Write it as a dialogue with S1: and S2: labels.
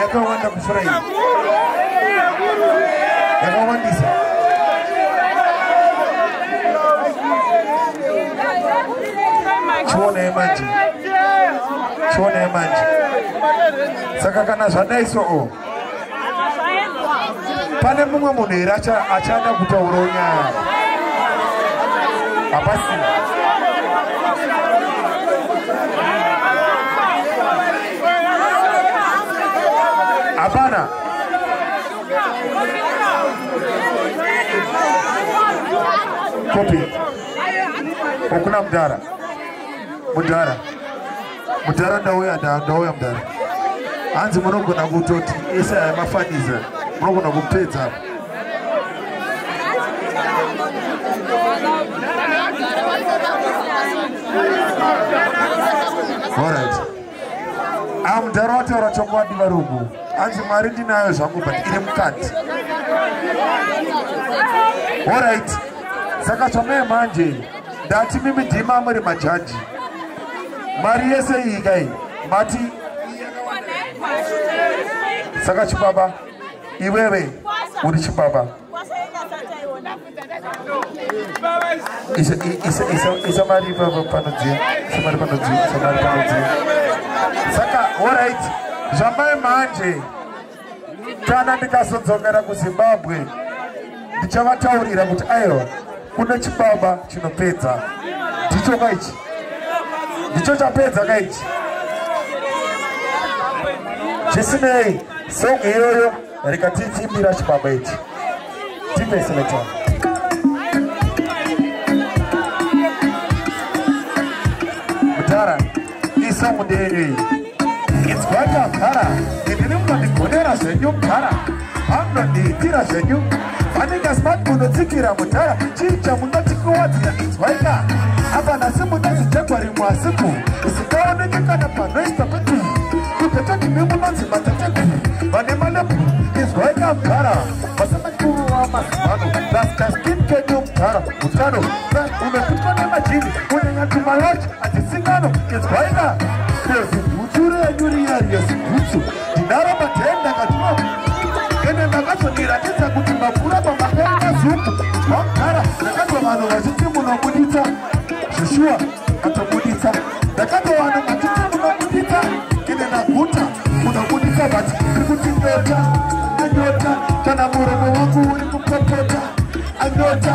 S1: yakawanda kupfura iyi yakawandisa chionai manje chionai manje saka kana zvadai so o pane mumwe munhu here achada kutaurawo nyaya hapasina hapana kopi okuna mudhara mudhara mudhara ndauya ndauya mudhara hanzi munogona kutoti ese aya mafaniza munogona kupedza All right. amudhara wataura chokwadi varungu hanzi mari ndinayo zvangu but iri mukati orit saka zvamee manje ndati mimi dhima muri majaji mari yese iyi kai mati saka chibaba iwewe uri chibaba Isa, isa, isa, isa mari baba panodziya. Isa mari panodziya. Isa mari panodziya. Saka, all right. Zvamai manje. Kana ndikazodzokera kuZimbabwe, ndichavataurira kuti aiwa kune chibaba chinopedza. Ndicho kaichi. Ndicho chapedza kaichi. Zvisinei, song iyoyo rega tichimbira chibaba ichi tipeseletana mudhara isa mudenyu iyi inzwai kagara ini ndiri munondigonera zvenyu mudhara anondiitira zvenyu vanenge smart munotsikira mudhara chii chamunoti kuwadzira inzwaika apa nhasi mune zichekwa rimwe asiku zikaoneke kana panoisa kuti kutetoti mimunonzi mateteku vane malepu inzwaika mudhara vasamakuru wamazimano lasta skin kedu mudhara utano unopitwa nemajini unyanya tumalachi atisingano inzwaika kezi bhutsu renyu riya riya zibhutsu Ndaro patenda ndakatuma ende ndakazondiratidza kuti mapura pamapera mazuku vakugara ndakatwa vanhu vachiti munobuditsa zvishuwa atobuditsa ndakatwa vanhu vachiti munobuditsa ende ndaguta munobuditsa vati iri kuti ndota anyota kana muromo wangu uri kupopota anyota